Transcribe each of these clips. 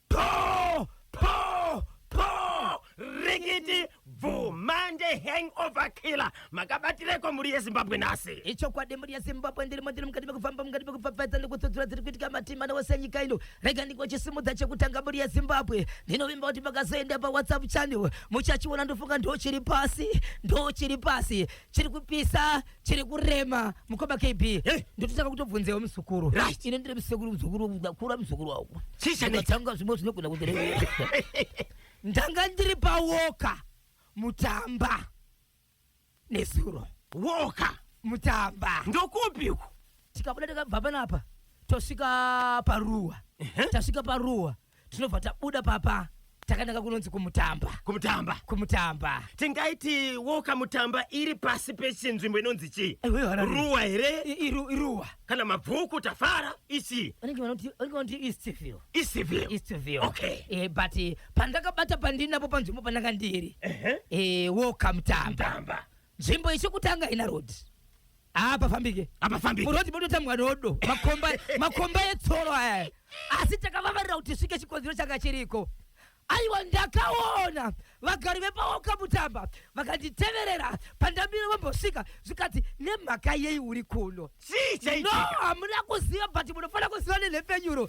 Poo! Poo! Poo! Rikiti! Bvu! Mande hangover killer! Makabatireko mhuri yeZimbabwe nhasi? ichokwadi mhuri yezimbabwe ndirimo ndiri mukati mekufamba mukati mekupfapfaidza nekutsudzura dziri kuitika matima newose enyika ino rega ndingochisimudza chekutanga mhuri yezimbabwe ndinovimba kuti makazoenda pawhatsapp channel muchachiona ndofunga ndochiri pasi ndochiri pasi chiri kupisa chiri kurema mukoma kb Eh. ndototanga kutobvunzewo muzukuru Right. ine ndiri musekuru muzukuru ndakura muzukuru wako Chii chanetsa? ndakatanga zvimwe zvinogona kundirevera ndanga ndiri pawoka mutamba nezuro woka mutamba ndokupi uku tikabuda takabva panapa tosvika paruwa Ehe. tasvika paruwa tinobva tabuda papa takananga kunonzi kumutamba kumutamba kumutamba tingaiti woka mutamba iri pasi pechinzvimbo inonzi chii Ewe, Harare. ruwa here I- iru- iruwa kana mabvuku tafara ichii vanenge vanoti vanenge vanoti eastville isivyo eastville Okay. eh, but eh, pandakabata pandinapo panzvimbo pandanga ndiri Ehe. eh, woka mutamba mutamba Nzvimbo ichikutanga ina road. Ah, pafambike. Apafambike. Murodi mototamwa rodo. Makomba makomba etsoro aya. Asi takavavarira kuti svike chikonzero changa chiriko. Aiwa ndakaona vagari vepaoka mutamba vakanditeverera pandamire vambosvika zvikati nemhaka yei uri kuno Chii no chaitika? hamuna kuziva but munofanira kuziva nenhepfenyuro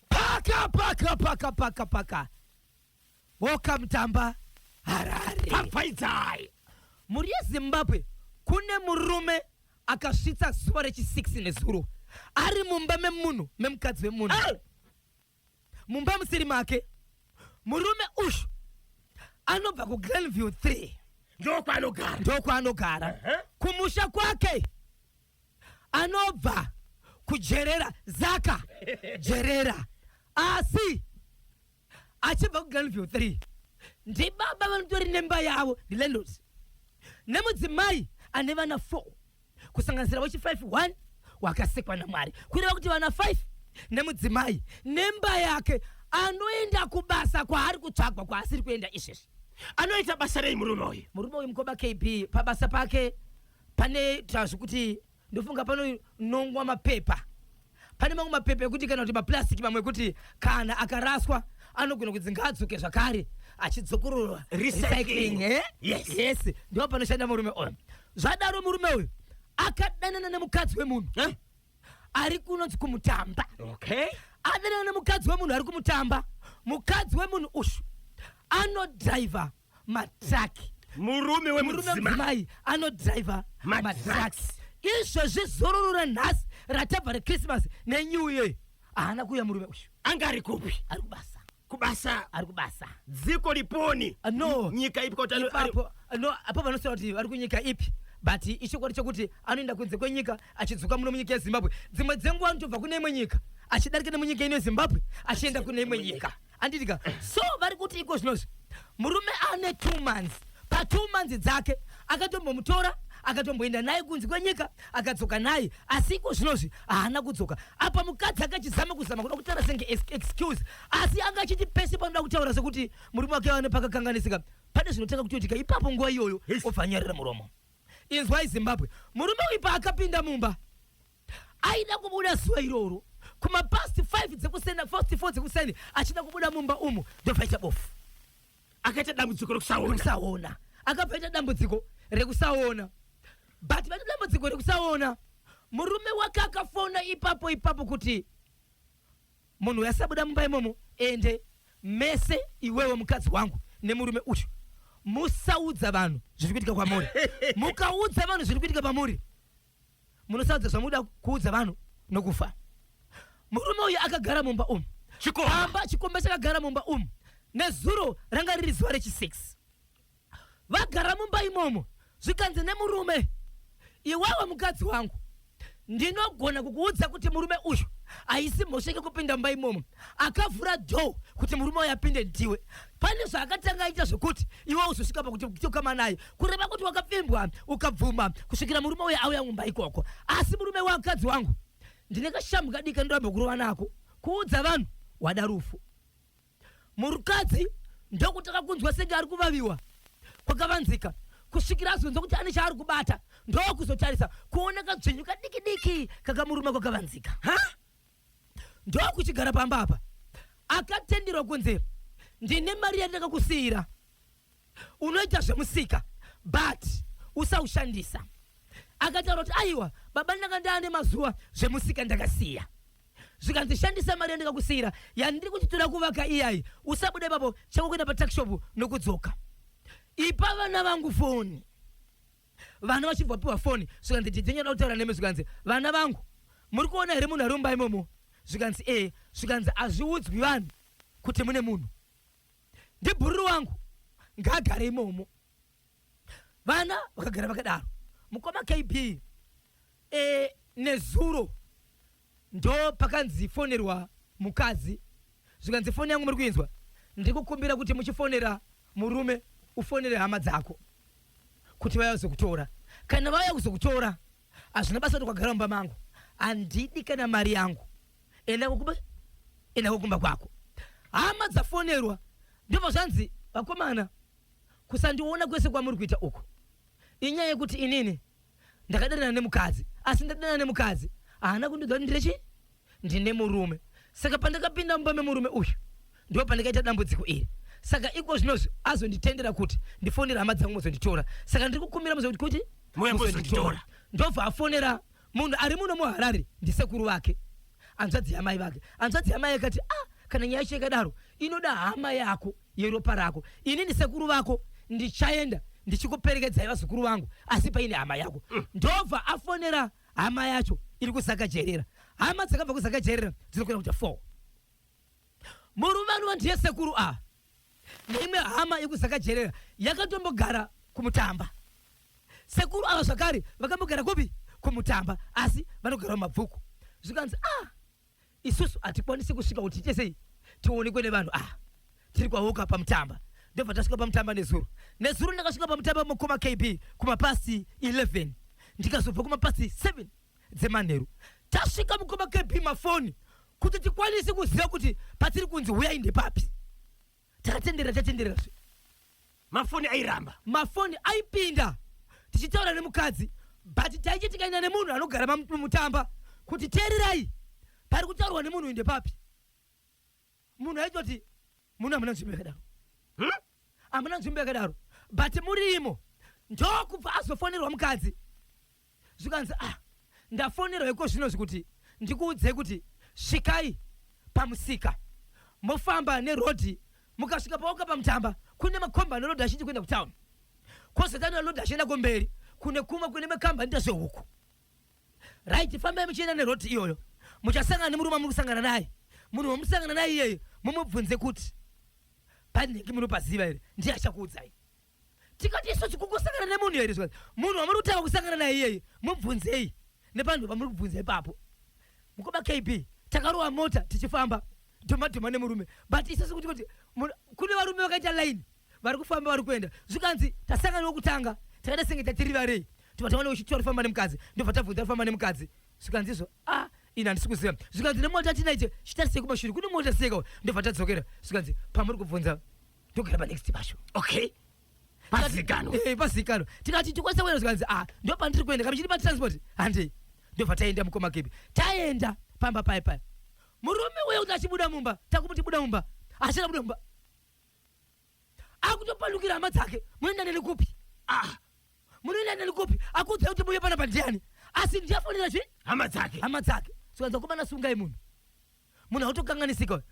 paka paka paka paka paka woka mutamba harare pfapfaidzai mhuri yezimbabwe kune murume akasvitsa zuva rechi 6 nezuro ari mumba memunhu memukadzi wemunhu Eh! mumba musiri make murume uyu anobva kuglenview 3 ndokwanogara ndokwaanogara Ehe. kumusha kwake anobva kujerera zaka jerera asi achibva kugranview 3 ndibaba vanotori nemba yavo ndilandlord nemudzimai ane vana 4 kusanganisira wechi 5 1 wakasikwa namwari kureva kuti vana 5 nemudzimai nemba yake anoenda kubasa kwaari kutsvagwa kwaasiri kuenda izvezvi anoita basa rei murume uyu murume uyu mukoma kb pabasa pake pane tazvi kuti ndofunga panonongwa mapepa pane mamwe mapepa ekuti kana kuti maplastic mamwe ekuti kana akaraswa anogona kuti ngaadzoke zvakare achidzokororwa recycling eh? yes, yes. ndipo panoshanda murume uyu zvadaro murume uyu akadanana nemukadzi wemunhu eh? ari kunonzi kumutamba okay. adanana nemukadzi wemunhu ari kumutamba mukadzi wemunhu ushu anodriver matraki murume wemudzimai anodriver matraki izvezvi zororo ranhasi ratabva rechristmas nenew year haana kuuya murume uyu anga ari kupi ari kubasa kubasa ari kubasa dziko liponi uh, no nyika ipi kuti ipapo uh, no apo vanosema kuti vari kunyika ipi but ichokwadi chokuti anoenda kunze kwenyika achidzoka muno munyika yezimbabwe dzimwe dzenguva anotobva kune imwe nyika achidarika nemunyika ino yezimbabwe achienda kune imwe nyika anditi ka so vari kuti iko zvinozvi murume ane two months patwo months dzake akatombomutora akatomboenda naye kunzi kwenyika akadzoka naye asi iko zvinozvi haana kudzoka apa mukadzi akachizama kuzama kuda kutaura senge ex- excuse asi anga achiti pese panoda kutaura sekuti murume wake ane pakakanganisika pane zvinotanga kutoitika ipapo nguva iyoyo obva anyarira muromo inzwai zimbabwe murume uyu paakapinda mumba Aida kubuda zuva iroro kuma past 5 dzekuseni past 4 dzekuseni achida kubuda mumba umu ndopaita bofu. Akaita dambudziko rekusaona. Rekusaona. Akapaita dambudziko rekusaona. But vane dambudziko rekusaona. Murume wake akafona ipapo ipapo kuti munhu uyu asabuda mumba imomo ende mese iwewe mukadzi wangu nemurume uyu musaudza vanhu zviri kuitika kwamuri mukaudza vanhu zviri kuitika pamuri munosaudza zvamuda kuudza vanhu nokufa murume uyu akagara mumba umu amba chikomba chakagara mumba umu nezuro ranga riri zuva rechi6 vagara mumba imomo zvikanzi nemurume iwawe mukadzi wangu ndinogona kukuudza kuti murume uyu haisi mhosva yekupinda mumba imomo akavhura dho kuti murume uyu apinde ndiwe pane zvaakatanga aita zvekuti iwe uzosvika pakuti kutokama naye kureva kuti wakapfimbwa ukabvuma kusvikira murume uye auya mumba ikoko asi murume wakadzi wangu ndine kashamhu kadiki kandirambe kurova nako kuudza vanhu wada rufu murukadzi ndokutanga kunzwa senge ari kuvaviwa kwakavanzika kusvikira azonzwa kuti ane chaari kubata ndokuzotarisa kuona kadzvinyu kadikidiki kakamuruma kwakavanzika ha ndokuchigara pamba apa akatenderwa kunzi ndine mari yandakakusiyira unoita zvemusika but usaushandisa akataura kuti aiwa baba ndanga ndaane mazuva zvemusika ndakasiya zvikanzi shandisa mari yandikakusiyira yandiri kuti toda kuvaka iyayi usabuda ipapo chako kuenda patakishopu nokudzoka ipa vana vangu foni vana vachibva vapiwa foni zvikanzi didzenyu anoda kutaura nemi zvikanzi vana vangu muri kuona here munhu ari mumba imomo zvikanzi ee zvikanzi hazviudzwi vanhu kuti mune munhu ndibhururu wangu ngaagare imomo vana vakagara vakadaro mukoma kb e, nezuro Ndo pakanzi fonerwa mukadzi zvikanzi foni yangu muri kuinzwa ndikukumbira kuti muchifonera murume ufonere hama dzako kuti vaya kuzokutora kana vaya kuzokutora hazvina basa kuti kwagara mumba mangu handidi kana mari yangu enda kokuba enda kokumba kwako hama dzafonerwa ndobva zvanzi vakomana kusandiona kwese kwamuri kuita uku inyaya yekuti inini ndakadanana nemukadzi asi ndadanana nemukadzi haana kundiudza kuti ndine chii ndine murume saka pandakapinda mumba memurume uyu ndipo pandakaita dambudziko iri saka iko zvinozvi azonditendera kuti ndifonera hama dzangu muzonditora saka ndiri kukumbira muzokuti kuti Muyambozonditora. ndobva afonera munhu ari muno muharare ndisekuru vake hanzvadzi yamai vake hanzvadzi yamai akati ah kana nyaya yacho ikadaro inoda hama yako yeropa rako inini sekuru vako ndichaenda ndichikuperekedzai vazukuru vangu asi paine hama yako mm. ndobva afonera hama yacho iri kuzakajerera hama dzakabva kuzakajerera dzinokwira kuita four murume anova ndiye sekuru a ah. neimwe hama yekuzakajerera yakatombogara kumutamba sekuru ava zvakare vakambogara kupi kumutamba asi vanogara mumabvuku zvikanzi ah isusu hatikwanisi kusvika kuti tiite sei tionekwe nevanhu ah tiri kwawoka pamutamba ndobva tasvika pamutamba nezuro nezuro ndakasvika pamutamba mukoma kb kumapasi 11 ndikazobva kumapasi 7 dzemanheru tasvika mukoma kb mafoni kuti tikwanise kuziva kuti patiri kunzi huyai ndepapi takatenderera tatenderera zve mafoni airamba mafoni aipinda tichitaura nemukadzi but taiche tikaenda nemunhu anogara mamutamba kuti teererai pari kutaurwa nemunhu uyu ndepapi munhu aitoti muno hamuna nzvimbo yakadaro hamuna nzvimbo yakadaro but murimo ndokubva azofonerwa mukadzi zvikanzi ah ndafonerwa iko zvino zvikuti ndikuudzei kuti svikai pamusika mofamba nerodhi mukasvika paoka pamutamba kune makomba anerodhi achinji kuenda kutown kozotana lodhi achienda kumberi kune kumwe kune makamba anoita zvehuku Right, fambai muchienda neroti iyoyo. Muchasangana nemurume amuri kusangana naye. Munhu wamusangana naye iyeyo mumubvunze kuti panhingi munopaziva here ndiye achakuudzai. Tikati isu chikungosangana nemunhu here zvikanzi munhu wamuri kutanga kusangana naye iyeyo mubvunzei nepanhu pamuri kubvunza ipapo. Mukoma KB takarowa mota tichifamba dhoma dhoma nemurume but isu sikuti kuti kune varume vakaita line vari kufamba vari kuenda zvikanzi tasangana wekutanga takaita senge tatiri varei tobva taona wechiti wari kufamba nemukadzi ndobva tabvunza ari kufamba nemukadzi zvikanzi izvo a ah, ini handisi kuziva zvikanzi nemota atinaite chitarisei kumashure kune mota siyekawo ndobva tadzokera zvikanzi pamuri kubvunza ndogara panext pasho okay pazikanwa eh, pazikanwa tikati tikwanisa kuenda zvikanzi a ah, ndo pandiri kuenda kamichiri patransport handei ndobva taenda mukoma kepi taenda pamba paye paye murume uye kuti achibuda mumba takumuti buda mumba achida buda mumba akutopandukira hama dzake munoenda neni kupi ah munoenda neni kupi akuudzai kuti muye pana pandiani asi ndiyafonera zvi hama dzake hama dzake sokanza kumana sungai munhu munhu autokanganisika uyu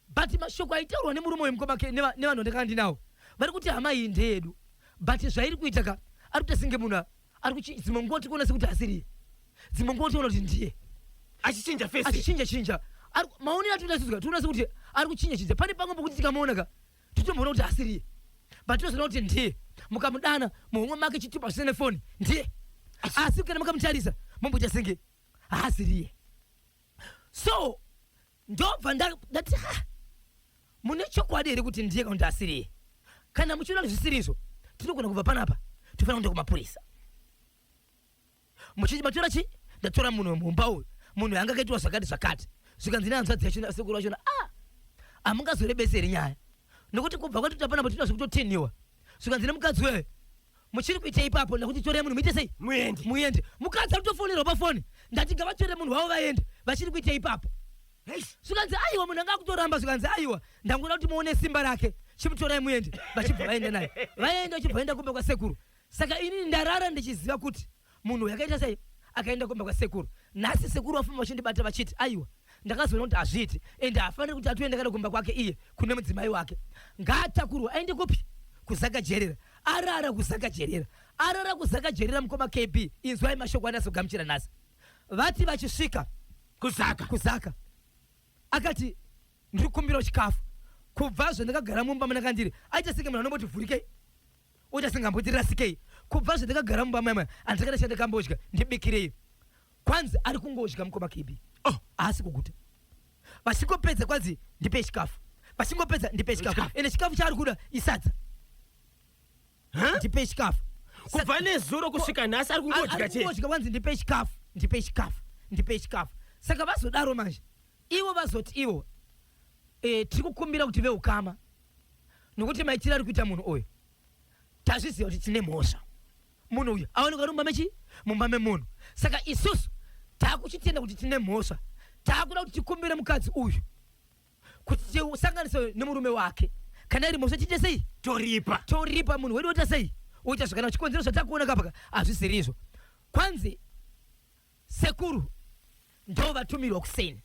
but mashoko aitaurwa nemurume uyu mukoma ke neva- nevanhu vandakanga ndinawo vari kuti hama iyi ndeyedu but zvairi kuita ka ari kuita singe munhu a- ari kuchi dzimwe nguva tiri kuona sekuti asiriye dzimwe nguva tiona kuti ndiye achichinja fesi achichinja chinja Ari ku- maonero atinoita sisi ka tinoona sekuti ari kuchinja chinja pane pamwe pokuti tikamuona ka titomboona kuti asiriye but tinozoona kuti ndiye mukamudana muhomwe make chitupa zvisina nefoni ndiye asi kana makamutarisa momboita senge haasiriye so ndobva ndati ha mune chokwadi here kuti ndiye kana asiriye kana muchiona kuti zvisiri izvo tinogona kubva panapa tofanira kuenda kumapurisa muchiti matora chi ndatora munhu wemumba uyu munhu yanga akaitwa zvakati zvakati zvikanzi nehanzvadzi yachona sekuru vachona a ah, hamungazorebeseri nyaya nokuti kubva kwatoti apana patinoda zvekutotinhiwa zvikanzi nemukadzi wewe muchiri kuitei ipapo ndakuti torei munhu muite sei muende muende mukadzi akutofonerwa pafoni ndati ngavatore munhu wavo vaende vachiri kuitei ipapo zvikanzi aiwa munhu anga akutoramba zvikanzi aiwa ndangoda kuti muone simba rake chimutorai muende vachibva vaenda naye vaenda vachibva vaenda kumba kwasekuru saka inini ndarara ndichiziva kuti Munhu yakaita sei akaenda kumba kwasekuru nhasi sekuru vafamba vachindibata vachiti aiwa ndakazoona kuti hazviiti ende haafaniri kuti atoenda kana kumba kwake iye kune mudzimai wake ngaatakurwe aende kupi kuzakajerera arara kuzakajerera arara kuzakajerera mukoma kb inzwai mashoko anazogamuchira nhasi vati vachisvika kuzaka kuzaka akati ndiri kukumbirawo chikafu kubva zvandakagara mumba munakandiri aita senge munhu anomboti vhurikei Uita sengamboti rasikei kubva zvandakagara mumba maimai andakada shanda kambodya ndibikirei kwanzi ari kungodya mukoma KB oh haasi kuguta vachingopedza kwanzi ndipe chikafu vachingopedza ndipe chikafu Chikafu. ende chikafu chaari kuda isadza Huh? ndipe chikafu kubva nezuro kusvika nhasi ari kungodya chete arikungodya kwanzi ndipe chikafu ndipe chikafu ndipe chikafu saka vazodaro manje ivo vazoti ivo eh, tiri kukumbira kuti veukama nokuti maitiro ari kuita munhu uyu tazviziva kuti tine mhosva munhu uyu aoneka uri mumba mechi mumba memunhu saka isusu taakuchitenda kuti tine mhosva taakuda kuti tikumbire mukadzi uyu kuti tisanganise nemurume wake kana iri mhosva tiite sei toripa toripa munhu wedu woita sei woita zvakanaka chikonzero zvatakuona kapaka hazvisirizvo kwanzi Sekuru ndo vatumirwa kuseni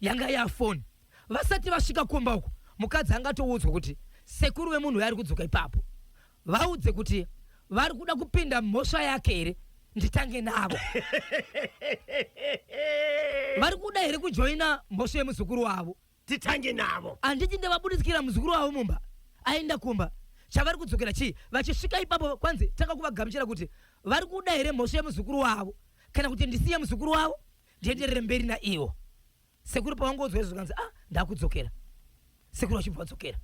yanga yafoni vasati vasvika kumba uko mukadzi angatoudzwa kuti sekuru vemunhu uyo ari kudzoka ipapo vaudze kuti vari kuda kupinda mhosva yake here nditange navo vari kuda here kujoina mhosva yemuzukuru wavo titange navo. Handiti ndavabuditsikira muzukuru wavo mumba aenda kumba chavari kudzokera chii vachisvika ipapo kwanzi tanga kuvagamuchira kuti vari kuda here mhosva yemuzukuru wavo kana kuti ndisiye muzukuru wavo ndienderere mberi naiwo sekuru pavangodzwa izvo zvikanzi ah ndakudzokera sekuru vachibva vadzokera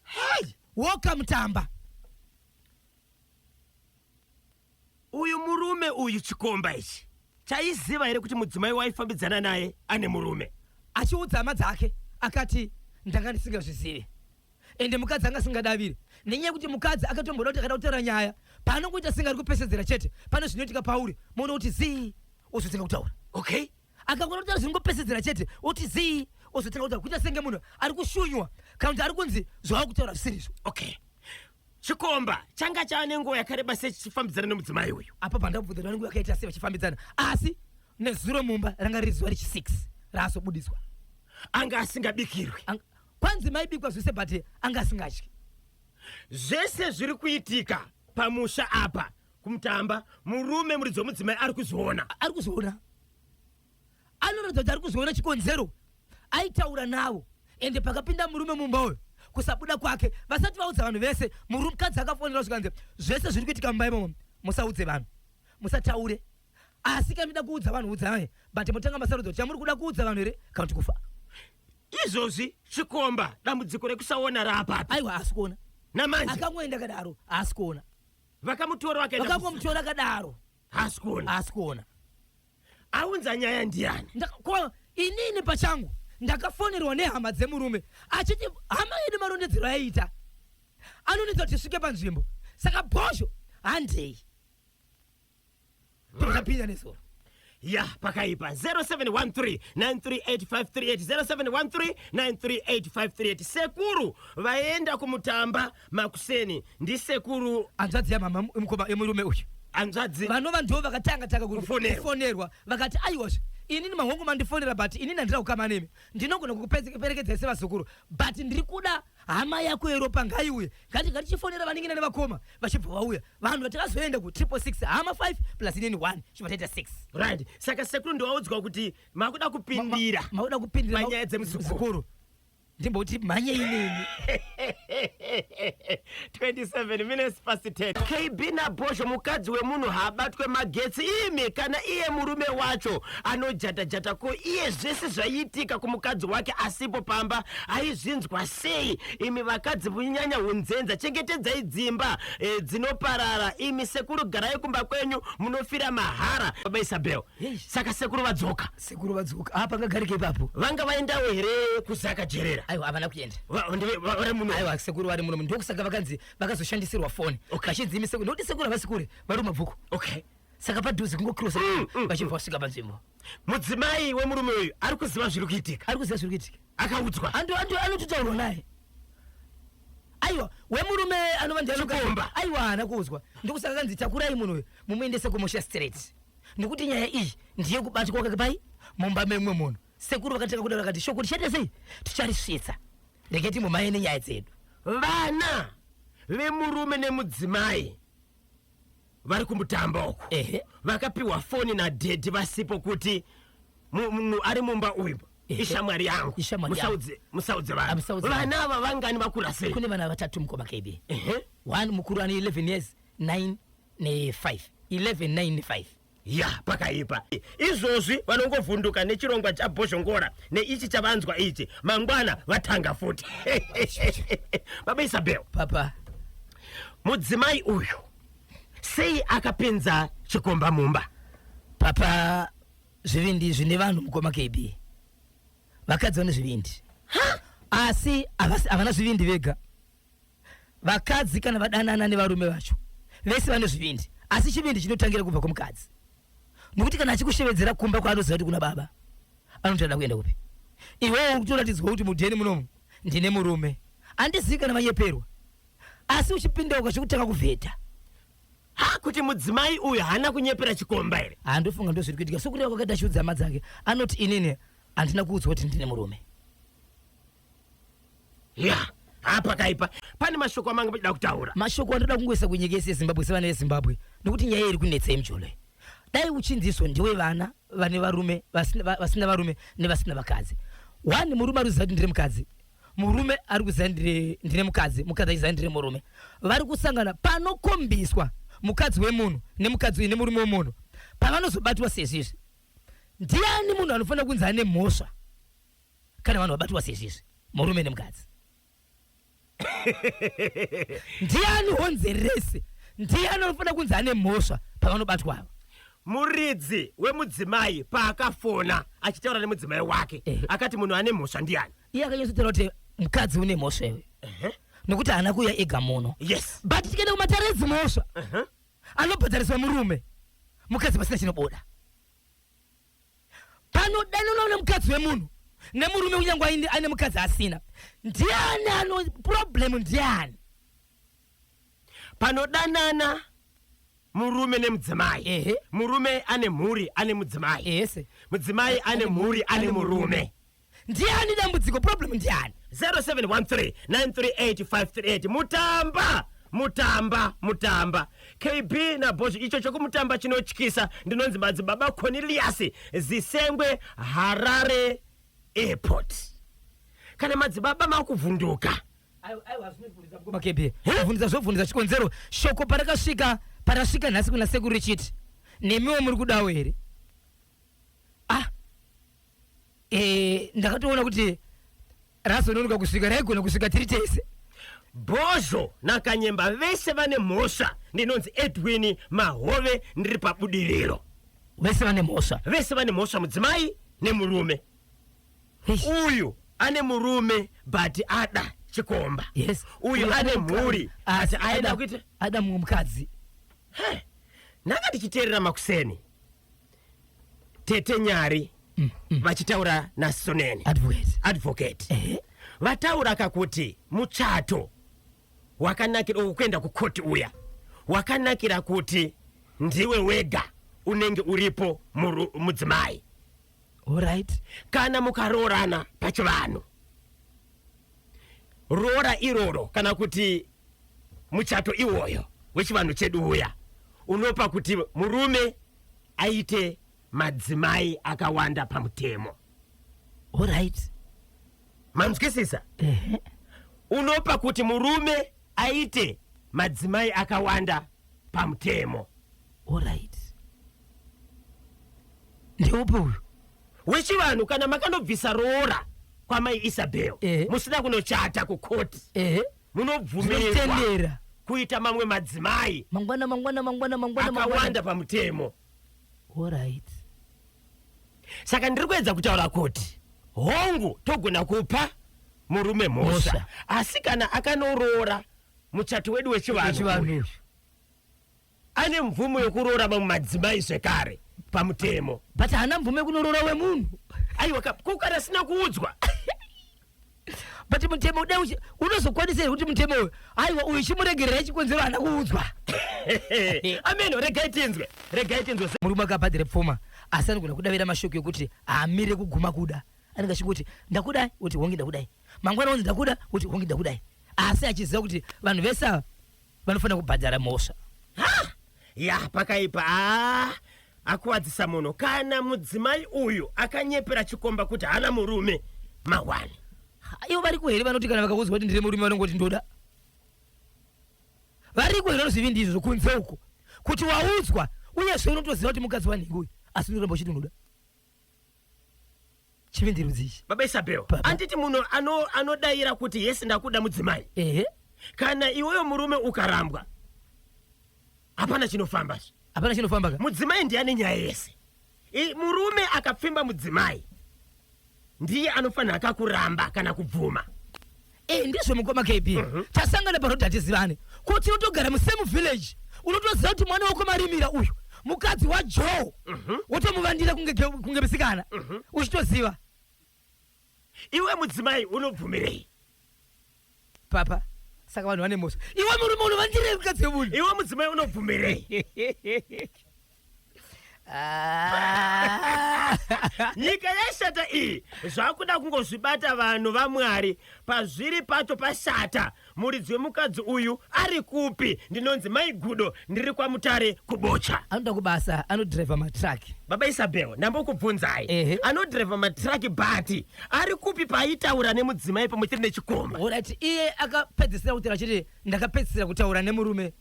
hei woka mutamba Uyu murume uyu chikomba ichi chaiziva here kuti mudzimai waifambidzana naye ane murume? Achiudza hama dzake akati, Ndanga ndisingazvizive ende mukadzi anga asingadavire nenyaya yekuti mukadzi akatomboda kuti akada kutaura nyaya paanongoita senge ari kupesedzera chete pane zvinoitika pauri moona kuti zii ozotanga kutaura okay akangona kutaura zvinongopesedzera chete oti zii ozotanga kutaura kuita senge munhu ari kushunywa kana kuti ari kunzi zvawakutaura zvisirizvo okay chikomba changa chava nenguva yakareba sei chichifambidzana nemudzimai uyu apa pandabvunza vanenge vakaita sei vachifambidzana asi nezuro mumba ranga riri zuva rechi6 raazobudiswa anga asingabikirwi Ang- kwanzi maibikwa zvese but anga asingadyi zvese zviri kuitika pamusha apa kumutamba murume muridzi wemudzimai ari kuzviona ari kuzviona anoratidza kuti ari kuzoona chikonzero aitaura navo ende pakapinda murume mumba uyo kusabuda kwake vasati vaudza vanhu vese murumkadzi akafonera zvikanzi zvese zviri kuitika mumba imomo musaudze vanhu musataure asi kana muda kuudza vanhu udzai but motanga masarudzo kuti chamuri kuda kuudza vanhu here kana kuti kufa izvozvi chikomba dambudziko rekusaona raapapi aiwa haasi kuona namanje akangoenda kadaro haasi kuona vakamutora vakaenda kusa- vakangomutora kadaro haasi kuona haasi kuona aunza nyaya ndiani ko inini pachangu ndakafonerwa nehama dzemurume achiti hama yedu marondedzero aiita anonetsa kuti svike panzvimbo saka bhozho handei tozapinda nezoro ya pakaipa 0713938538 sekuru vaenda kumutamba makuseni ndisekuru hanzvadzi yamama mukoma yemurume uyu hanzvadzi vanova ndivo vakatanga taka ku- Kufonerwa. kufonerwa vakati aiwazve inini mahongu mandifonera but inini handina kukama nemi ndinogona kukuperekedzai sevazukuru but ndiri kuda hama yako yeropa ngaiuye ngati ngatichifonera vaningina nevakoma vachibva vauya vanhu vatakazoenda ku triple six hama 5 plus inini 1 chibva taita 6 right saka sekuru ndowaudzwa kuti makuda kupindira mauda kupindira Panyaya dzemuzukuru. muzukuru ndimboti mhanye inini 27 minutes past 10 kb nabhozho mukadzi wemunhu haabatwe magetsi imi kana iye murume wacho anojatajata ko iye zvese zvaiitika kumukadzi wake asipo pamba aizvinzwa sei imi vakadzi munyanya unzenza chengetedzai dzimba e, dzinoparara imi sekuru garai kumba kwenyu munofira mahara baba isabel saka sekuru vadzoka sekuru vadzoka apa ngagarike ipapo vanga vaendawo here kuzaka jerera aiwa havana kuenda vari muno aiwa sekuru vari muno ndokusaka vakanzi vakazoshandisirwa foni vachidzimi sekuru ndokuti sekuru havasi kure vari mabvuku okay saka padhuze kungokrosa mm, mm, vachibva mm. vasvika panzvimbo mudzimai wemurume uyu ari kuziva zviri kuitika ari kuziva zviri kuitika akaudzwa anototaurwa naye aiwa wemurume anova ndiaomba aiwa haana kuudzwa ndokusaka kanzi takurai munhu uyu mumuendese kumusha straight nekuti nyaya iyi ndiye kubatwa kwake pai mumba memumwe munhu sekuru vakatanga kudaro vakati shoko tichaita sei ticharisvitsa rege timbomaye nenyaya dzedu vana vemurume nemudzimai vari kumutamba uko Ehe. vakapiwa foni nadhedhi vasipo kuti mu- munhu ari mumba uyu Ehe. ishamwari yangu Ishamwari Musaudze- musaudze vanhu Amusaudze vanhu. vana ava vangani vakura sei kune vana vatatu mukoma kb Ehe. one mukuru ane 11 years 9 95 1195 ya pakaipa izvozvi vanongovhunduka nechirongwa chabhozhongora neichi chavanzwa ichi mangwana vatanga futi baba isabel papa mudzimai uyu sei akapinza chikomba mumba papa zvivindi zvine vanhu mukoma kb vakadzi vane zvivindi asi havana zvivindi vega vakadzi kana vadanana nevarume vacho vese vane zvivindi asi chivindi chinotangira kubva kumukadzi nokuti kana achikushevedzera kumba kwaanoziva kuti kuna baba anotoda kuenda kupi iwewo kutoratidzwa kuti mudheni munomu ndine murume andizivi kana vanyeperwa asi uchipinda uka zvekutanga kuvheta ha kuti mudzimai uyu haana kunyepera chikomba here handofunga ndo zviri kuitika sokureva kwakaita chiudza hama dzake anoti inini handina kuudzwa kuti ndine murume Yeah. Haa pakaipa pane mashoko amanga muchida kutaura. Mashoko andoda kungoisa kunyika yese yeZimbabwe sevana veZimbabwe nokuti nyaya iri kunetsa yemucholo iyi. Dai uchinziso ndiwe vana vane varume vasina, va- vasina varume nevasina vakadzi. One murume ari kuziva kuti ndiri mukadzi. Murume ari kuziva ndiri ndine mukadzi, mukadzi achiziva ndiri murume. Vari kusangana panokombiswa mukadzi wemunhu nemukadzi nemurume wemunhu pavanozobatwa sezvizvi. Ndiani munhu anofanira kunzi ane mhosva? kana vanhu vabatwa sezvizvi murume nemukadzi ndiani honze rese ndiani anofanira kunzi ane mhosva pavanobatwa ava muridzi wemudzimai paakafona achitaura nemudzimai wake Eh. akati munhu ane mhosva ndiani iye akanyatsotera kuti mukadzi une mhosva iwe nokuti haana kuuya ega muno yes but tikaenda kumatare edzimhosva anobhadhariswa murume mukadzi pasina chinobuda panodanana nemukadzi wemunhu nemurume kunyangwa aine mukadzi asina ndiani ano problem ndiani panodanana murume nemudzimai ehe murume ane mhuri ane mudzimai ese mudzimai ane mhuri ane murume ndiani dambudziko problem ndiani 0713938538 mutamba mutamba mutamba kb nabhozho icho chokumutamba chinotyisa ndinonzi madzibaba cornelius zisengwe harare airport kana madzibaba makuvhunduka makebe vhunduza zvovhunduza chikonzero shoko parakasvika parasvika nhasi kuna sekuru richiti nemiwo muri kudawo here ah eh ndakatoona kuti razononoka kusvika raigona kusvika tiri tese bhozho nakanyemba vese vane mhosva ndinonzi edwini mahove ndiri pabudiriro vese vane mhosva vese vane mhosva mudzimai nemurume uyu ane murume but ada chikomba yes uyu ane mhuri asi aenda kuita ada mumwe mukadzi ndanga ndichiteerera makuseni tete nyari mm, mm. vachitaura nasoneni advocate, advocate. Eh. vataura kakuti muchato wakanakira ukuenda kukoti uya wakanakira kuti ndiwe wega unenge uripo mudzimai right. kana mukaroorana pachivanhu roora iroro kana kuti muchato iwoyo wechivanhu chedu uya unopa kuti murume aite madzimai akawanda pamutemo orit manzwisisa unopa kuti murume aite madzimai akawanda pamutemo Alright. Ndeupi uyu? Wechivanhu kana makanobvisa roora kwamai Isabel eh, musina kunochata kukoti eh, munobvumirwa kuita mamwe madzimai mangwana mangwana mangwana mangwana akawanda pamutemo. Alright. Saka ndiri kuedza kutaura kuti hongu togona kupa murume mhosva asi kana akanoroora muchato wedu wechivanhu ane mvumo yekuroora mamwe madzimai zvekare pamutemo but haana mvumo yekunorora wemunhu aiwa ko kana asina kuudzwa but mutemo uda unozokwanisa here kuti mutemo uyu aiwa uyu chimuregerera chikonzero haana kuudzwa ameno regai tinzwe regai tinzwe murume akabhadhire pfuma asi anogona kudavira mashoko yekuti haamire kuguma kuda anenge achingoti ndakudai kuti hongi ndakudai mangwana onzi ndakuda kuti hongi ndakudai asi achiziva kuti vanhu vese ava vanofanira kubhadhara mhosva ha ya pakaipa aa akuwadzisa munhu kana mudzimai uyu akanyepera chikomba kuti hana murume mahwani ivo variko here vanoti kana vakaudzwa kuti ndiri murume vanongoti ndoda variko here vanozivi ndizvo kunze uko kuti waudzwa uye zve unotoziva kuti mukadzi wanhingi uyu asi unoramba uchiti unoda chivindi rudzi ichi baba isabel Baba. anditi munhu ano- anodaira kuti yes ndakuda mudzimai ehe kana iweyo murume ukarambwa hapana chinofamba zve. hapana chinofamba ka mudzimai ndiye ane nyaya yese I- murume akapfimba mudzimai ndiye anofanira akakuramba kana kubvuma Eh, ndizvo mukoma kb mhm. tasangana paroad hatizivane kuti unotogara musame village unotoziva kuti mwana wako marimira uyu mukadzi wajoe mhm. wotomuvandira kunge misikana mhm. uchitoziva iwe mudzimai unobvumirei papa saka vanhu vane mhosva iwe murume unovandirei mukadzi wemunhu iwe mudzimai unobvumirei Ah. nyika yashata iyi zvakuda kungozvibata vanhu vamwari pazviri pacho pashata muridzi wemukadzi uyu ari kupi ndinonzi mai gudo ndiri kwamutare kubocha anoda kubasa anodhirevha matraki baba isabel ndambokubvunzai Ehe. anodhirevha matraki bhati ari kupi paaitaura nemudzimai pamwe chete nechikomba orati iye akapedzisira kutaura chete ndakapedzisira kutaura nemurume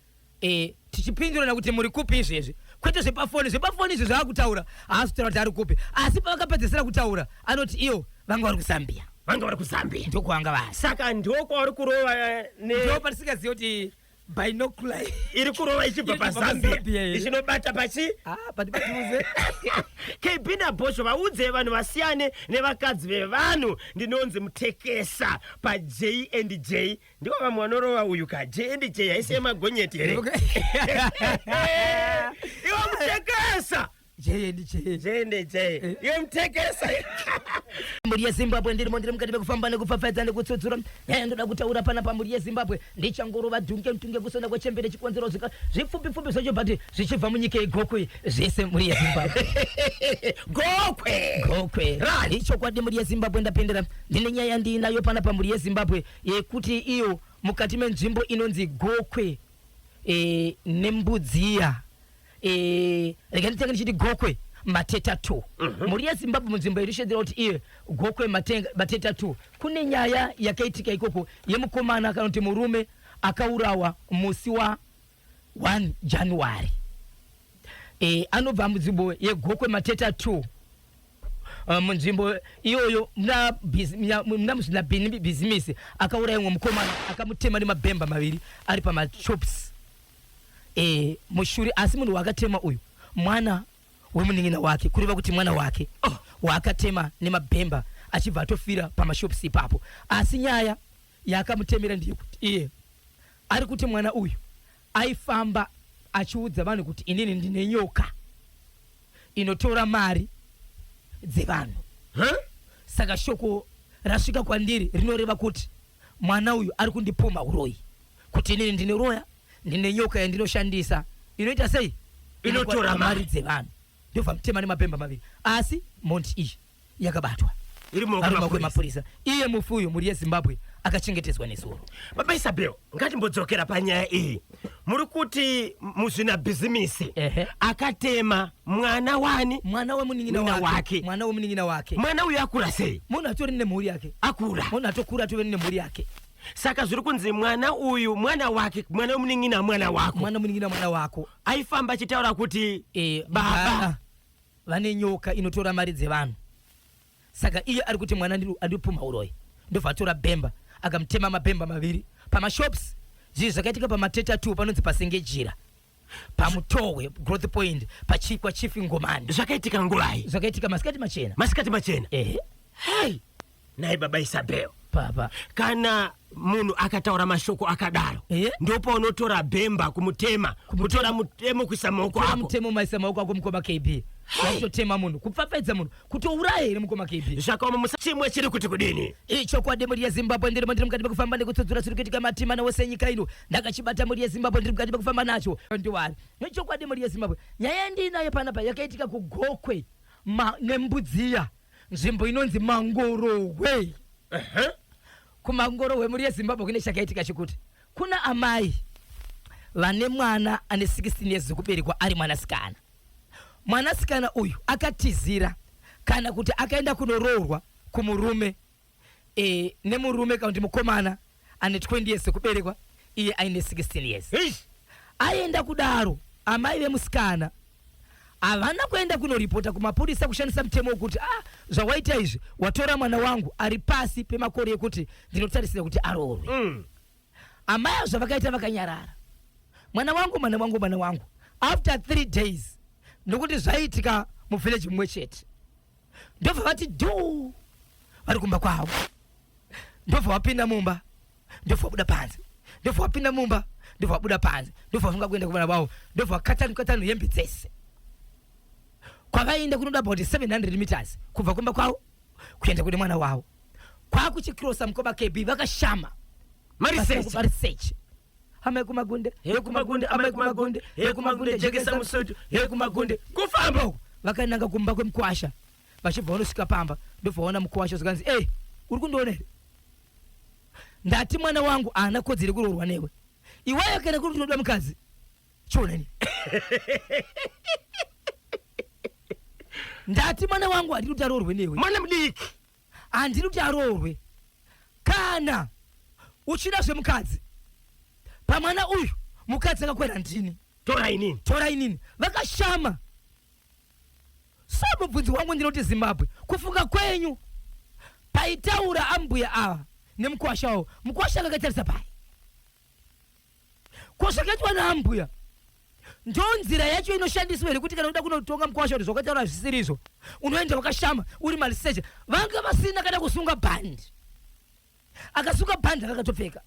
Eh, tichipindurana kuti muri kupi izvezvi kwete zvepafoni zvepafoni izvi zvaakutaura haasi kutaura kuti ari kupi asi pavakapedzesera kutaura anoti iyo vanga vari kuzambia vanga vari kuzambia ndokwavanga vari saka ndokwavari kurova eh, ne- ndo patisingaziva kuti binocular iri kurova ichibva Iri kubva pazambia paZambia iri. ichinobata pachi ah pati patuze kb nabhosho vaudze vanhu vasiyane nevakadzi vevanhu ndinonzi mutekesa paj and j Ndiwo vamwe vanorova uyu ka JNDJ haisi yemagonyeti here? Iwe mutekesa! JNDJ. JNDJ. Eh. Iwe mutekesa! mhuri yezimbabwe ndirimo ndiri mukati mekufamba nekupfapfaidza nekutsudzura nyaya eh, ndoda kutaura pana pamhuri yezimbabwe ndichangorova dhunge mtunge kusona kwechembere chikonzero zvika zvipfupipfupi zvacho but zvichibva munyika yegokwe zvese mhuri yezimbabwe gokwe gokwe ichokwadi mhuri yezimbabwe ndapindira ndine nyaya ndiinayo pana pamhuri yezimbabwe yekuti iyo mukati menzvimbo inonzi gokwe e, nembudziya e, eh, rega nditenge ndichiti gokwe mateta two mm -hmm. mhuri yezimbabwe munzvimbo irishedzera kuti iye gokwe mateta two kune nyaya yakaitika ikoko yemukoma kana kuti murume akaurawa musi wa 1 January e, anobva munzvimbo yegokwe mateta 2 eh, munzvimbo iyoyo muna muzvina bhini bhizimisi akauraya mumwe mukomana akamutema nemabhemba maviri ari pamachops e, mushuri asi munhu waakatema uyu mwana wemunin'ina wake kureva kuti mwana wake oh. waakatema nemabhemba achibva atofira pamashops ipapo asi nyaya yaakamutemera ndeyekuti iye Ari kuti mwana uyu aifamba achiudza vanhu kuti inini ndine nyoka inotora mari dzevanhu. Huh? Saka shoko rasvika kwandiri rinoreva kuti mwana uyu ari kundipumha uroyi kuti inini ndine roya ndine nyoka yandinoshandisa inoita sei inotora mari dzevanhu ndobva mutema nemapemba maviri asi mhondi iyi yakabatwa iri mumaoko emapurisa iye mufi uyu mhuri yezimbabwe akachengetedzwa nezuro baba isabel ngatimbodzokera panyaya iyi muri kuti muzvina bhizimisi akatema mwana wani mwana wemunin'ina wake mwana wemunin'ina wake mwana uyu akura sei munhu atori nemhuri yake akura munhu atokura atove nemhuri yake saka zviri kunzi mwana uyu mwana wake mwana wemunin'ina mwana wako mwana wemunin'ina mwana wako aifamba achitaura kuti e, baba vane nyoka inotora mari dzevanhu saka iye ari kuti mwana andipumha uroyi ndobva atora bhemba akamutema mabhemba maviri pamashops zvii zvakaitika pamateta 2 panonzi pasenge jira pamutohwe growth point pachikwa chief ngomani zvakaitika nguvai zvakaitika masikati machena masikati machena ehe hey nhai baba isabel baba kana munhu akataura mashoko akadaro Eh? ndopaunotora bhemba kumutema kutora mutemo kuisa maoko tora ako mutemo maisa maoko ako mukoma kb kutotema munhu kupfapfaidza munhu kutouraya here mukoma kb zvakaoma musa chimwe chiri kuti kudini Ii chokwadi mhuri yezimbabwe ndirimo ndiri mukati mekufamba nekutsudzura chiri kuitika matimana wose enyika ino ndakachibata mhuri yezimbabwe ndiri mukati mekufamba nacho ndiwari nechokwadi mhuri yezimbabwe nyaya ndiinayo panapa yakaitika kugokwe ma- nembudziya nzvimbo inonzi mangorohwe Ehe. kumangorohwe mhuri yezimbabwe kune chakaitika chekuti kuna amai vane mwana ane 16 years dzekuberekwa ari mwanasikana mwanasikana uyu akatizira kana kuti akaenda kunoroorwa kumurume eh, nemurume kana kuti mukomana ane 20 years sekuberekwa iye aine 16 years Eish. aenda kudaro amai vemusikana havana kuenda kunoripota kumapurisa kushandisa mutemo wekuti ah zvawaita izvi watora mwana wangu ari pasi pemakore ekuti ndinotarisira kuti aroorwe Mm. amai avo zvavakaita vakanyarara mwana wangu mwana wangu mwana wangu after three days nokuti zvaiitika muvhileji mumwe chete ndobva vati dhuu vari kumba kwavo ndobva wapinda mumba ndobva wabuda panze ndobva wapinda mumba ndobva wabuda panze ndobva wafunga kuenda kuvana vavo ndobva wakatanu katanu hembe dzese kwavaienda kunoda about 700 meters kubva kumba kwavo kuenda kune mwana wavo kwakuchikrosa mukoma kb vakashama Mari search. mari search amai kumagunde he kumagunde amai kumagunde he kumagunde jekesa musutu he kumagunde kufamba uku vakananga kumba kwemukwasha vachibva vanosvika pamba ndobvaona mukwasha zvikanzi e uri kundiona here ndati mwana wangu haana kodzere kuroorwa newe iwayo kana kuri tinoda mukadzi chionani ndati mwana wangu handiri kuti aroorwe newe mwana mudiki handidi kuti aroorwe kana uchida zvemukadzi pamwana uyu mukadzi akakwera ndini tora inini tora inini vakashama so mubvunzi wangu ndinoti zimbabwe kufunga kwenyu paitaura ambuya ava nemukwasha wavo mukwasha akakatarisa pai ko zvakaitwa naambuya ndo nzira yacho inoshandiswa here kuti kana uda kunotonga mukwasha kuti zvakataura hazvisirizvo unoenda wakashama uri maliseche vanga vasina kana kusunga bhandi akasunga bhandi akakatopfeka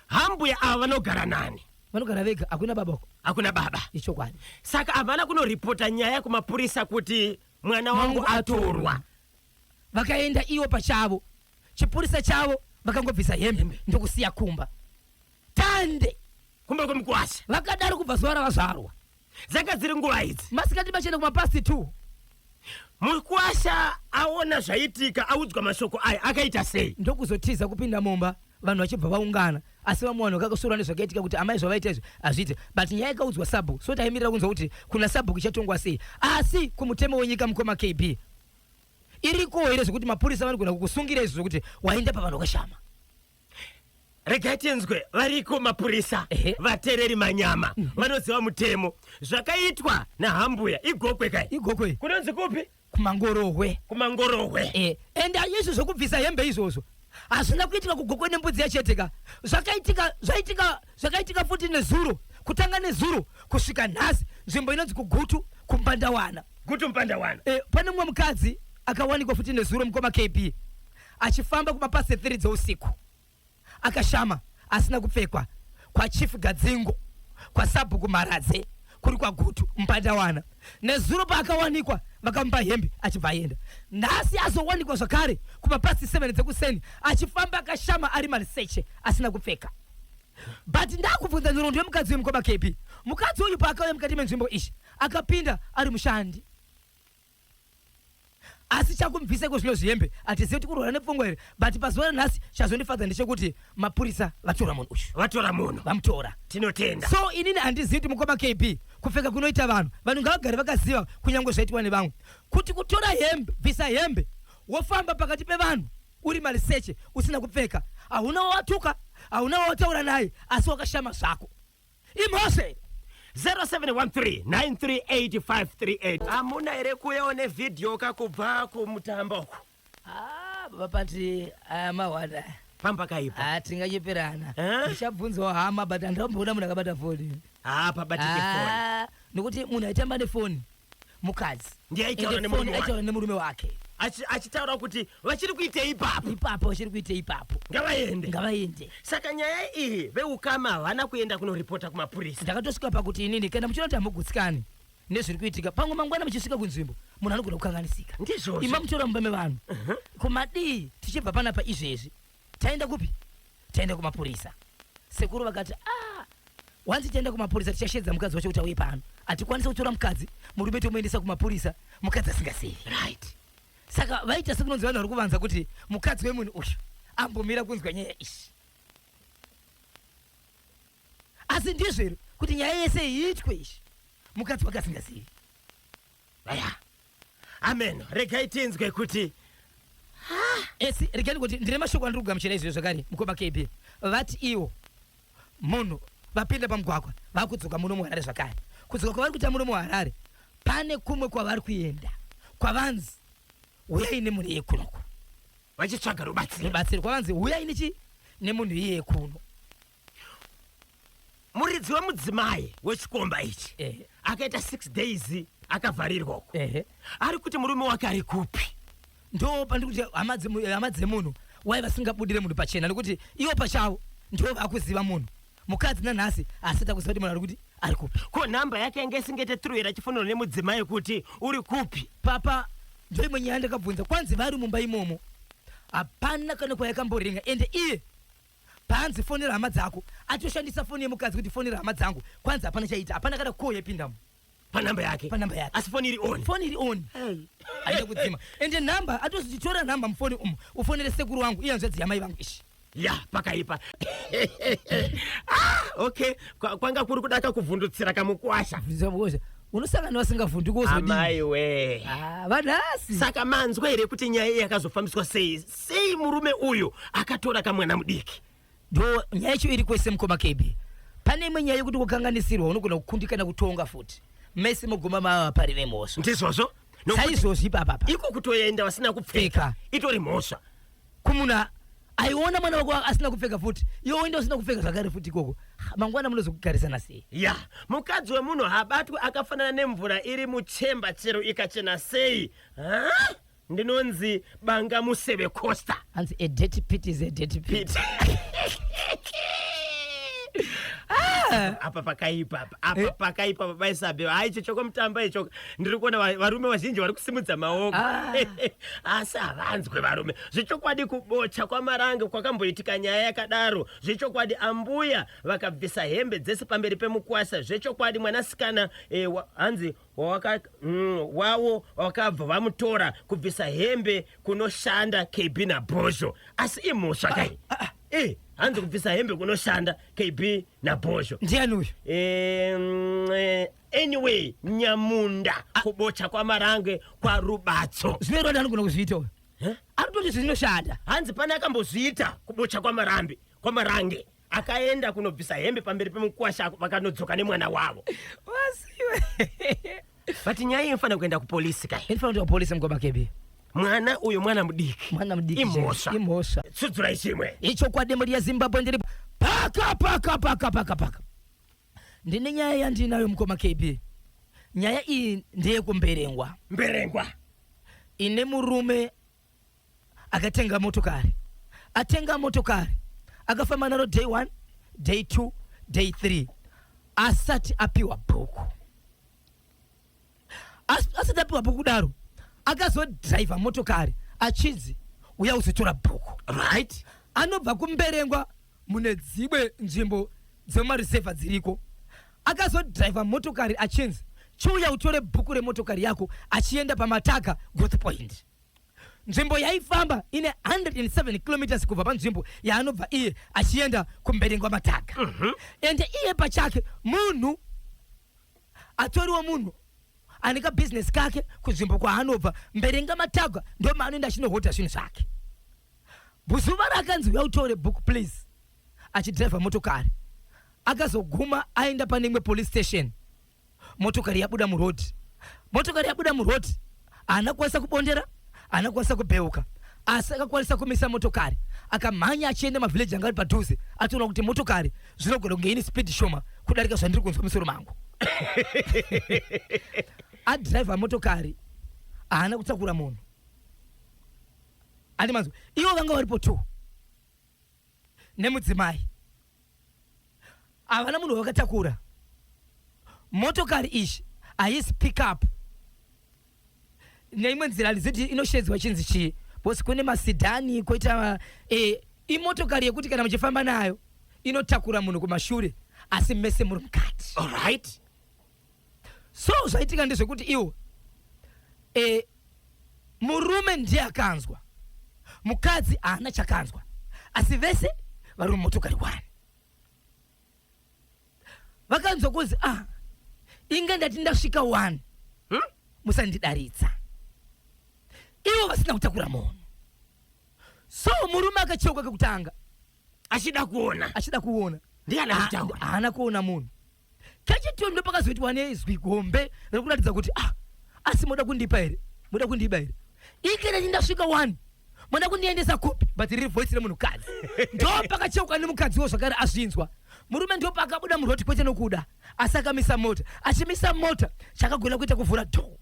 hambuya ava vanogara nani vanogara vega hakuna baba uko hakuna baba ichokwadi saka havana kunoripota nyaya kumapurisa kuti mwana wangu Wangu atorwa. atorwa vakaenda ivo pachavo chipurisa chavo vakangobvisa hembe ndokusiya kumba tande kumba kwemukwasha vakadaro kubva zuva ravazvarwa dzanga dziri nguva idzi masikati machena kumapasi t mukwasha aona zvaitika audzwa mashoko aya akaita sei ndokuzotiza kupinda mumba vanhu vachibva vaungana asi vamwe vanhu vakakusura nezvakaitika kuti amai zvavaita izvi hazviite but nyaya ikaudzwa sabhuku so taimirira kunzwa kuti kuna sabhuku ichatongwa sei asi kumutemo wenyika mukoma kb irikowo here zvekuti mapurisa vanogona kukusungira izvi zvekuti waenda pavanhu vakashama regai tinzwe variko mapurisa Ehe. vatereri manyama vanoziva mutemo zvakaitwa nahambuya igokwe kai igokwe kunonzi kupi kumangorohwe kumangorohwe Eh, and ayesu zvekubvisa hembe izvozvo hazvina kuitika kugokwe nembudzi yachete ka zvakaitika zvaitika zvakaitika futi nezuro kutanga nezuro kusvika nhasi nzvimbo inonzi kugutu kumbandawana gutu mpandawana e, pane mumwe mukadzi akawanikwa futi nezuro mukoma kb achifamba kumapasi 3 dzeusiku akashama asina kupfekwa kwachief gadzingo kwasabhuku mharadze kuri kwagutu mpandawana nezuro paakawanikwa vakamupa hembe achibva aenda nhasi azowanikwa zvakare kumapasi 7 dzekuseni achifamba akashama ari maliseche asina kupfeka but ndakubvunza nhoroondo yemukadzi wemukoma kepi mukadzi uyu paakauya mukati menzvimbo ishi akapinda ari mushandi asi chakumubvisa iko zvino zvihembe hatizivi kuti kurwara nepfungwa here but pazuva ranhasi chazondifadza ndechekuti mapurisa vatora munhu uyu vatora munhu vamutora tinotenda so inini handizivi kuti mukoma kb kupfeka kunoita vanhu vanhu ngavagare vakaziva kunyange zvaitwa nevamwe kuti kutora hembe bvisa hembe wofamba pakati pevanhu uri maliseche usina kupfeka hauna wawatuka hauna wawataura naye asi wakashama zvako imhose 0713938538 hamuna here kuyewo nevhidhiyo ka kubva kumutambo uku Ah, baba pati aya mahwada pamba kaipa Ah, tinganyeperana Eh? ndichabvunzawo hama but handamboona munhu akabata foni haa pabatike foni Ah, nokuti munhu aitamba nefoni mukadzi ndiye aitaura Ende phone nemurume aitaura wake nemurume wake Achi- achitaura kuti vachiri kuitei ipapo ipapo vachiri kuita ipapo ngavaende ngavaende saka nyaya iyi veukama havana kuenda kunoripota kumapurisa ndakatosvika pakuti inini kana muchiona kuti hamugutsikani nezviri kuitika pamwe mangwana muchisvika kunzvimbo munhu anogona kukanganisika ndizvozvo ima mutora mumba mevanhu kumadii tichibva panapa izvezvi Taenda kupi? Taenda kumapurisa. Sekuru vakati, ah, wanzi taenda kumapurisa tichashedza mukadzi wacho kuti auye pano. Hatikwanisa kutora mukadzi, murume tomuendesa kumapurisa, mukadzi asingazivi. Right. Saka vaita sekunonzi vanhu vari kuvanza kuti mukadzi wemunhu uyu ambomira kunzwa nyaya ishi. Asi ndizvo here kuti nyaya yese iitwe ishi mukadzi wake asingazivi. aya amen regai tinzwe kuti esi eh, regai kuti ndine mashoko andiri kugamuchira izvio zvakare mukoma kb vati iwo munhu vapinda pamugwagwa vakudzoka muno muharare zvakare kudzoka kwavari kuita muno muharare pane kumwe kwavari kuenda kwavanzi huyai nemunhu iye kunoko vachitsvaga rubatsiro rubatsiro kwavanzi huyai nechi nemunhu iye kuno muridzi wemudzimai wechikomba ichi akaita six days akavharirwa uko ari kuti murume wake ari kupi ndo pandiri kuti hama dzemunhu wai vasingabudire munhu pachena nekuti ivo pachavo ndo vakuziva munhu mukadzi nanhasi asita kuziva kuti munhu ari kuti ari kupi ko nhamba yake yange isingete truira chifonero nemudzimai kuti uri kupi papa ndo imwe nyaya ndakabvunza kwanzi vari mumba imomo hapana kana kwayakamboringa ende iye Paanzi fonera hama dzako atoshandisa foni yemukadzi kuti fonera hama dzangu kwanzi hapana chaita hapana kana call yaipindamo panhamba yake panhamba yake asi foni iri on foni iri on aida kudzima ende nhamba atozitora nhamba mufoni umu ufonere sekuru wangu iye hanzvadzi yamai vangu ishi ya pakaipa ah, okay kwanga kuri kudaka kuvhundutsira kamukwasha unosangana vasingavhunduki wozodii amai we ah, vanhasi saka manzwa here kuti nyaya iyi yakazofambiswa sei sei murume uyu akatora kamwana mudiki ndo nyaya yacho iri kwese mukoma kb pane imwe nyaya yekuti kukanganisirwa unogona kukundikana kutonga futi mese moguma mava pari vemhosva ndizvozvo saizvozvi papapa iko kutoenda vasina kupfeka itori mhosva kumuna aiona mwana wako asina kupfeka futi iwe woenda usina kupfeka zvakare futi ikoko mangwana munozokugarisana sei ya mukadzi wemunhu habatwi akafanana nemvura iri muchemba chero ikachena sei ha? Ndinonzi banga museve costa. Hanzi a dirty pit is a dirty pit. Ah! apa pakaipa apa apa eh? pakaipa baba isabe ha icho choko mutamba ichoka ndiri kuona varume vazhinji vari kusimudza maoko ah. asi havanzwe varume zvechokwadi kubocha kwamaranga kwakamboitika nyaya yakadaro zvechokwadi ambuya vakabvisa hembe dzese pamberi pemukwasa zvechokwadi mwanasikana eh, hanzi wawaka mm, wawo wakabva vamutora kubvisa hembe kunoshanda kb nabhozho asi imhosva kai ah, ah, ah. Eh, hanzi kubvisa hembe kunoshanda kb nabhozho ndiani uyu eh, mm, eh, anyway nyamunda ah. kubocha kwamarange kwarubatso zvinoitwa ndi anogona kuzviita uyo anototi zvinoshanda hanzi pane akambozviita kubocha kwamarambe kwamarange akaenda kunobvisa hembe pamberi pemukwasha vakanodzoka nemwana wavo wasiwe but nyaya iyi inofanira kuenda kupolisi kai inofanira kuenda kupolisi mukoma kebi mwana uyu mwana mudiki mwana mudiki imhosva imhosva sudzurai chimwe ichokwadi mhuri yezimbabwe ndiri paka paka paka paka paka ndine nyaya yandinayo mukoma kebi nyaya iyi ndeyekumberengwa mberengwa ine murume akatenga motokari atenga motokari akafamba naro day one day two day three asati apiwa bhuku asati apiwa bhuku kudaro akazodhiraivha motokari achinzi uya uzotora bhuku right anobva kumberengwa mune dzimwe nzvimbo dzemarisevha dziriko akazodhiraivha motokari achinzi chiuya utore bhuku remotokari yako achienda pamataka growth point nzvimbo yaifamba ine 107 kilometers kubva panzvimbo yaanobva iye achienda kumberengwa mataka mm -hmm. ende iye pachake munhu atoriwo munhu ane kabhizinesi kake kunzvimbo kwaanobva mberenga matagwa ndomaanoenda achinohodha zvinhu zvake Buzuva raakanzi huya utore book please achidriver motokari akazoguma aenda pane imwe police station motokari yabuda muroad motokari yabuda muroad haana kukwanisa kubondera haana kukwanisa kubheuka asi akakwanisa kumisa motokari akamhanya achienda mavhileji anga ari padhuze atoona kuti motokari zvinogona kunge ine speed shoma kudarika zvandiri kunzwa musoro mangu adriver motokari haana kutakura munhu Andi manzwa. Ivo vanga varipo two. Nemudzimai. Havana munhu wakatakura. Motokari ishi haisi pick up. Neimwe nzira handiziti inoshedzwa chinzi chii. Bosi kune masidhani koita eh, imotokari yekuti kana muchifamba nayo inotakura munhu kumashure asi mese muri mukati. All right. so zvaitika ndezvekuti iwo e, murume ndiye akanzwa mukadzi haana chakanzwa asi vese vari mumotokari wani vakanzwa kunzi ah inge ndati ndasvika wani hmm? musandidaridza ivo vasina kutakura munhu so murume akacheuka kekutanga achida kuona achida kuona ndiye anazvitaura haana kuona munhu kechitoni ndopakazoitwa nezwi gombe rekuratidza kuti ah asi moda kundipa here moda kundiba here ikereni ndasvika wani moda kundiendesa kupi but riri voice remunhukadzi ndopakacheuka nemukadziwo zvakare azvinzwa murume ndopakabuda muroti kwete nokuda asi akamisa mota achimisa mota chakagona kuita kuvhura dhoo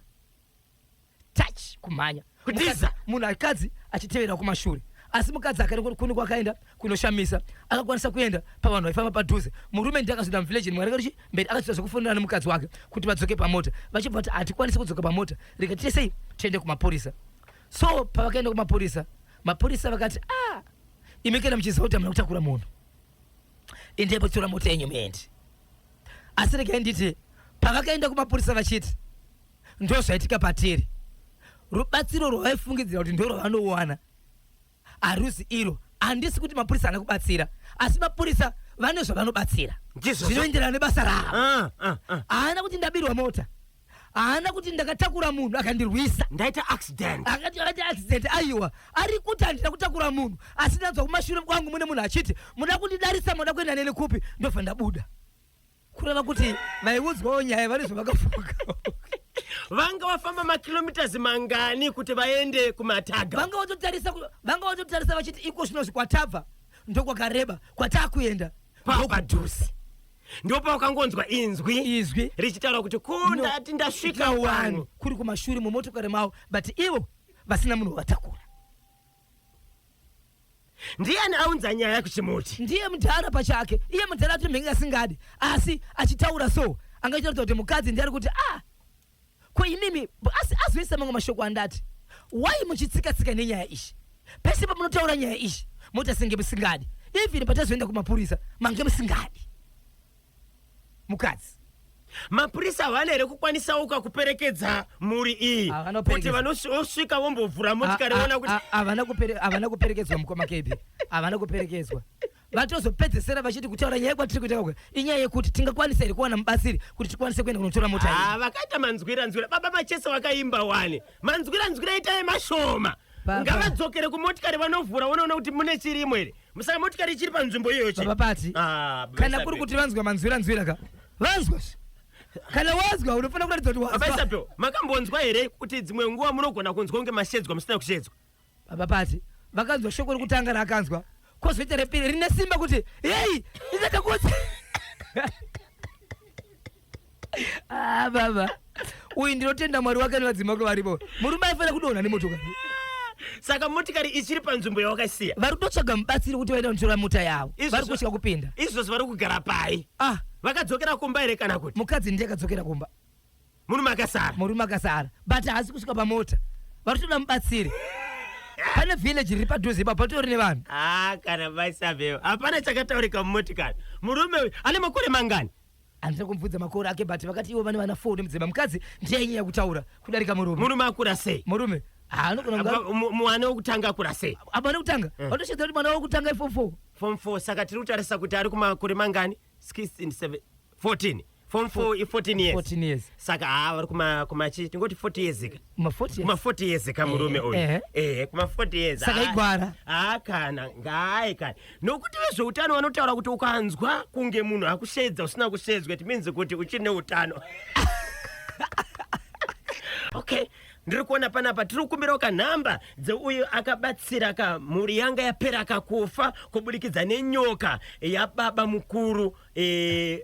touch kumhanya kutiza munhu akadzi achitevera kumashure asi mukadzi akare kune kwakaenda kunoshamisa akakwanisa kuenda pavanhu vaifamba padhuze murume ndiye akazoda muvillage mwari karichi mberi akazoita zvekufonera nemukadzi wake kuti vadzoke pamota vachibva vati hatikwanisi kudzoka pamota rega tiite sei tiende kumapurisa so pavakaenda kumapurisa mapurisa vakati ah imi kana muchiziva kuti amuna kutakura munhu endai potora mota yenyu muende asi regai nditi pavakaenda kumapurisa vachiti ndozvaitika patiri. Rubatsiro rwavaifungidzira kuti ndorwavanowana haruzi iro. Handisi kuti mapurisa haana kubatsira, asi mapurisa vane zvavanobatsira zvinoenderana nebasa ravo. Ah, ah, ah. Haana kuti ndabirwa mota, haana kuti ndakatakura munhu akandirwisa, ndaita accident, akati akaita accident. Aiwa, ari kuti handina kutakura munhu, asi ndanzwa kumashure kwangu mune munhu achiti muda kundidarisa, muda kuenda neni kupi, ndobva ndabuda. kureva kuti vaiudzwawo nyaya vanizvo vakafuka vanga vafamba makilomitas mangani kuti vaende kumataga vanga vatotarisa ku- vanga vatotarisa vachiti iko zvino zvikwatabva ndokwakareba kwatakuenda papadhuze ndopavakangonzwa inzwi izwi richitaura kuti ko ndati ndasvika wani kuri kumashure mumotokari mavo but ivo vasina munhu watakura ndiani aunza nyaya kuchimuti ndiye mudhara pachake iye mudhara ati mhenge asingadi asi achitaura so anga achitaridza kuti mukadzi ndiye ari kuti a ah, ko imimi asi azoisa mamwe mashoko andati wai muchitsika tsika nenyaya ishi pese pamunotaura nyaya ishi moti asinge musingadi even patazoenda kumapurisa mange musingadi mukadzi mapurisa havana here kukwanisawo kakuperekedza mhuri iyi kuti vanosvika vombovhura motikari vona kuti havana kuperekedzwa mukoma kebi havana kuperekedzwa vatozopedzesera vachiti kutaura nyaya kwatiri kuita kakwe inyaya yekuti tingakwanisa here kuwana mubatsiri kuti tikwanise kuenda kunotora mota ah, vakaita manzwira nzwira baba machese vakaimba wani manzwira nzwira itai mashoma Baba. ngavadzokere kumotikari vanovhura vonoona kuti mune chirimo here musaka motikari ichiri panzvimbo iyoyo chete. Baba Pati, Ah, baba kana Isabel. kuri kuti vanzwa manzwira nzwira ka vanzwa se. kana wazwa unofanira kuratidza kuti baba wazwa Isabel, makambonzwa here kuti dzimwe nguva munogona kunzwa kunge mashedzwa musina kushedzwa baba pati vakanzwa shoko rekutanga raakanzwa kozoita repiri rine simba kuti heyi ichatakuti Ah, baba uyu ndinotenda mwari wake nevadzima vake varipo murume aifanira kudonha nemotokari saka motikari ichiri panzvimbo yawakaisiya vari kutotsvaga mubatsiri kuti vaenda kunotora mota yavo Izvozvo- vari kutya kupinda izvozvo vari kugara pai ah vakadzokera kumba here kana kuti mukadzi ndiye akadzokera kumba murume akasara murume akasara but haasi kusvika pamota vari kutoda mubatsiri pane village riri padhuze ipapo patori nevanhu ah kana vaisaveo hapana chakataurika mumotikari murume uyu ane makore mangani handina kumubvunza makore ake but vakati ivo vane vana four nemudzimba mukadzi ndiye ainyanya kutaura kudarika murume murume akura sei murume haanogona kunga Apa, mu- mwana wokutanga akura sei abana kutanga Eh. vatoshedza kuti mwana wokutanga iform four form 4 saka tiri kutarisa kuti ari kumakore mangani 16 7 14 form 4 i 14 years 14 years saka haa vari kuma- kumachi tingoti 40 years ka Kuma 40 years. Kuma 40 years kamurume uyu. Eh. Eh, kuma 40 years. Saka igwara. Ah, kana ngaye kana. Nokuti vezveutano vanotaura kuti ukanzwa kunge munhu akushedza usina kushedzwa it means kuti uchiri neutano. okay ndiri kuona panapa tiri kukumbirawo kanhamba dzeuyo akabatsira ka mhuri yanga yapera kakufa kuburikidza nenyoka yababa mukuru e,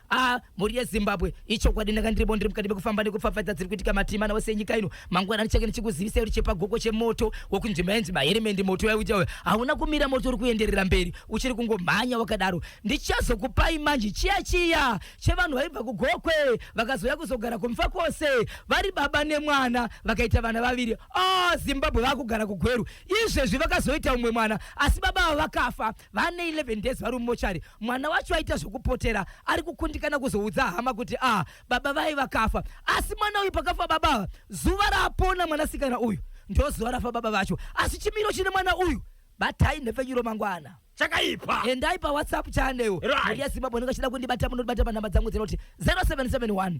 Ah, mhuri yezimbabwe ichokwadi ndanga ndiribo ndiri mukati mekufamba nekupfapfadza dziri kuitika matima nawo senyika ino mangwana ndichake ndichikuzivisa kuti chepagoko chemoto wokunzvimba yenzi maheremendi moto yauja uyo hauna kumira moto uri kuenderera mberi uchiri kungomhanya wakadaro ndichazokupai manje chiya chiya chevanhu vaibva kugokwe vakazouya kuzogara kumfa kwose vari baba nemwana vakaita vana vaviri oh zimbabwe vakugara kugweru izvezvi vakazoita umwe mwana asi baba ava vakafa Vane 11 days vari mumochari, mwana wacho aita zvekupotera ari kukundikana kuzoudza hama kuti ah, baba vaye vakafa. Asi mwana uyu pakafa baba ava, zuva raapona mwanasikana uyu ndozuva rafa baba vacho. Asi chimiro chine mwana uyu, batai nhepfenyuro mangwana. chakaipa Endai pawhatsapp channel Right. Media Zimbabwe unenge achida kundibata munondibata panhamba dzangu dzinoti 0771